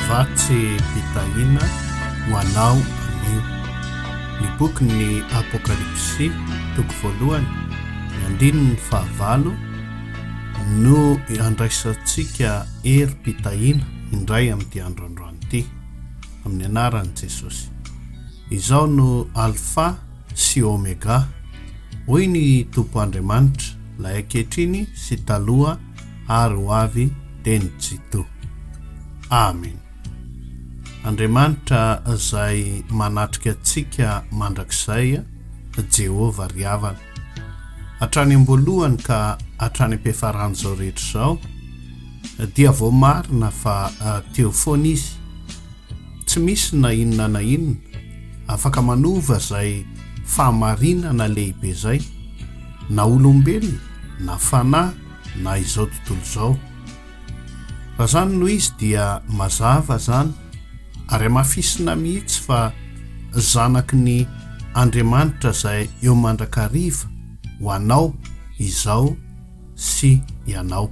Vatsy fitahiana ho anao anio. Ny bokin'ny Apokalypsy, toko voalohany, andininy fahavalo, no andraisantsika herim-pitahiana indray amin'ity andro androany ity, amin'ny anaran'i Jesosy. Izao no Alfa. sy Omega, hoy ny Tompo Andriamanitra, lay ankehitriny sy taloha ary ho avy dia ny Jito. Amen. Andriamanitra izay manatrika antsika mandrakizay, Jehovah ry havana. Hatrany am-boalohany ka hatrany am-piafaran'izao rehetra izao, dia voamarina fa teo foana Izy. Tsy misy na inona na inona Afaka manova izay fahamarinana lehibe izay, na olombelona, na fanahy, na izao tontolo izao. Raha izany no izy dia mazava izany ary amafisina mihitsy fa zanaky ny Andriamanitra izay eo mandrakariva ho anao izao sy ianao.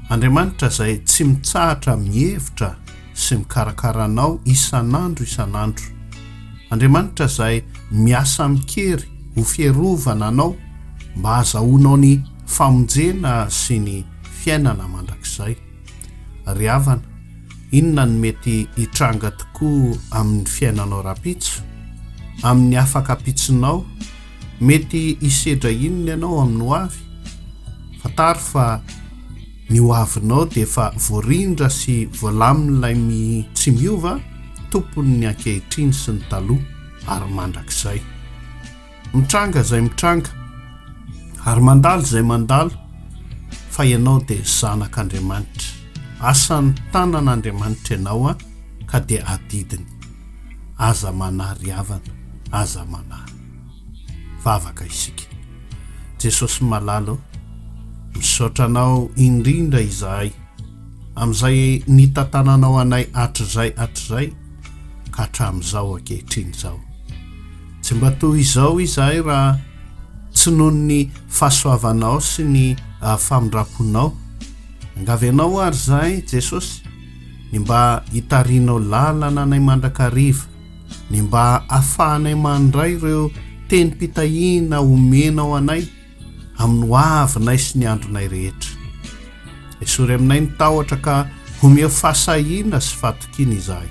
Andriamanitra izay tsy mitsahatra mihevitra sy mikarakara anao isan'andro isan'andro. Andriamanitra izay miasa amin-kery ho fierovana anao mba hazahoanao ny famonjena sy ny fiainana mandrakizay. Ry havana, inona no mety hitranga tokoa amin'ny fiainanao rahampitso? Amin'ny afaka ampitsonao, Mety hisedra inona ianao amin'ny hoavy? Fantaro fa ny hoavinao dia efa voarindra sy voalamin'ilay mi tsy miova, Tompon'ny ankehitriny sy ny taloha ary mandrakizay. Mitranga izay mitranga ary mandalo izay mandalo fa ianao dia zanak'Andriamanitra. Asan'ny tanan'Andriamanitra ianao ka dia adidiny. Aza manary havana, aza manary. vavaka isika Jesosy malala o misaotra anao indrindra izahay amin'izay nitantananao anay hatrizay hatrizay ka hatramin'izao ankehitriny izao tsy mba toy izao izahay raha tsy noho ny fahasoavanao sy ny ah, famindramponao angavy anao ary izahay Jesosy ny mba hitarinao lalana anay mandrakariva ny mba afahanay mandray ireo tenim-pitahiana omenao anay amin'ny hoavinay sy ny andronay rehetra. Esory aminay ny tahotra ka homeo fahasahiana sy fatokiana izahay.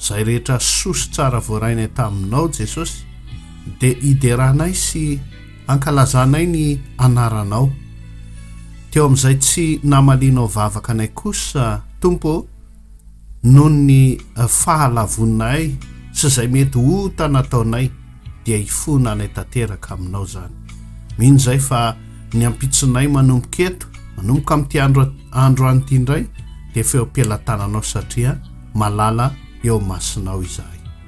Izay rehetra soa sy tsara voarainay taminao Jesosy dia hideranay sy ankalazanay ny anaranao. Teo amin'izay tsy namalianao vavaka anay kosa Tompo noho ny fahalavoninay sy izay mety ota nataonay dia hifona any tanteraka aminao izany. Mino izay fa ny ampitsonay manomboka eto, manomboka amin'ity andro, andro any ity indray dia feo am-pelatananao satria malala eo masinao izahay.